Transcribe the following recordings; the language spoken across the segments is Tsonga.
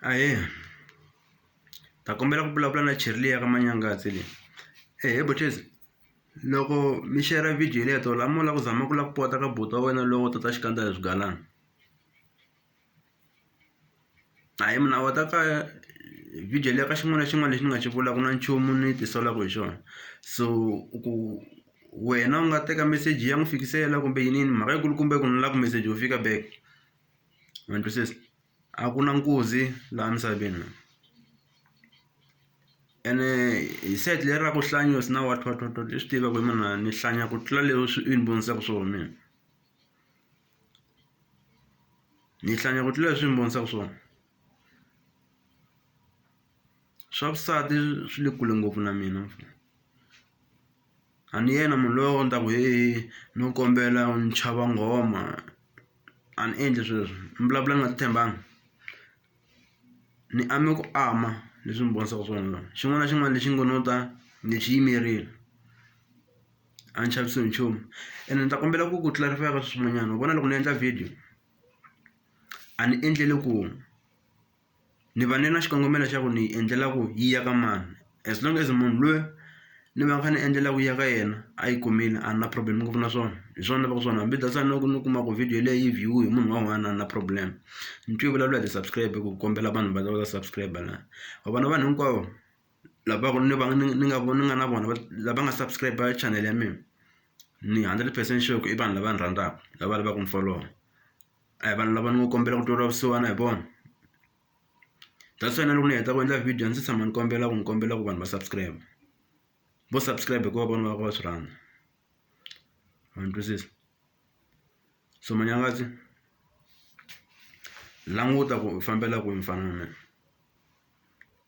Ahee ta kombela ku vulavula na cherileyo ya ka Manyangazi leyi ehe buchesi loko mi share video leyi tolo a mo lava ku zama ku lava ku pota ka buti wa wena lowo tota xikandza hi swigalani hayi munhu a wata ka video leyi ka xin'wana na xin'wana lexi ni nga xi vulaka na nchumu ni tisolaka hi xona so ku wena u nga teka meseji ya n'wi fikisela kumbe yiniyini mhaka yi kulukumba ku ni lava ku meseji wu fika back. ma ni twisisa a ku na nkuzi laha misaveni la ene hi side leri ra ku hlanyiwa se na wa twa twa twa ni swi tiva ku hi mina ni hlanya ku tlula leswi u ni vonisaka swona mina ni hlanya ku tlula leswi u ni vonisaka swona swa vusati swi le kule ngopfu na mina. a ni yena munhu loyi a ni ta ku heyi no kombela ni chava nghoma a ni endli sweswo ni vulavula ni nga titshembanga ni ame ku ama leswi ni vonisaka swona xin'wana na xin'wana lexi ngo no ta ni xi yimerile a ni chavisiwi hi nchumu ene ni ta kombela ku ku clarify-a ka sweswinyana u vona loko ni endla video a ni endleli ku. ni va ni na xikongomelo xa ku ni yi endlela ku yi ya ka mani as long as munhu luya ni va ni kha ni endlela ku ya ka yena a yi kumile a ni na problem ngopfu na swona hi swona ni lavaku swona hambi data ni loko ni kuma ku video leyi yi view-we hi munhu wa one a ni na problem ni twe yi vulavula hi ti-subscribe ku kombela vanhu va ta va ta subscribe la wa vona vanhu hinkwavo lava ku ni va ni ni nga ni nga na vona lava nga subscribe channel ya mina ni hundred percent sure ku i vanhu lava ni rhandzaka lava lavaku ni folowa. a hi vanhu lava ni ngo kombela ku tweriwa vusiwana hi vona that's why na loko ni heta ku endla video a ndzi se tshama ni kombela ku ni kombela ku vanhu va subscribe vo subscribe hikuva vona va va swi rhandza ma ni twisisa so manyangazi languta ku fambela kwihi mfana wa mina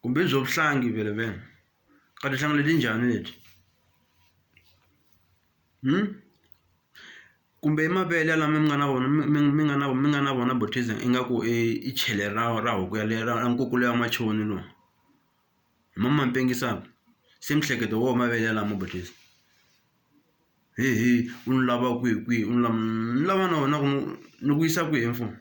kumbe byo vuhlangi vele vene ka tihlangi leti njhani leti hmm? kumbe i mavele lama mi nga na wona mi mi mi nga na mi nga na wona Botrytis ingaku i chele ra ra huku yaleyo ra nkukulu luya wa machoni luwa hi mo ma mi pengisaka se miehleketo hi woho mavele yalamo Botrytis hehe u ni lava kwihi kwihi u ni lava ni lava na wena ku ni ku yisa kwihi mfana.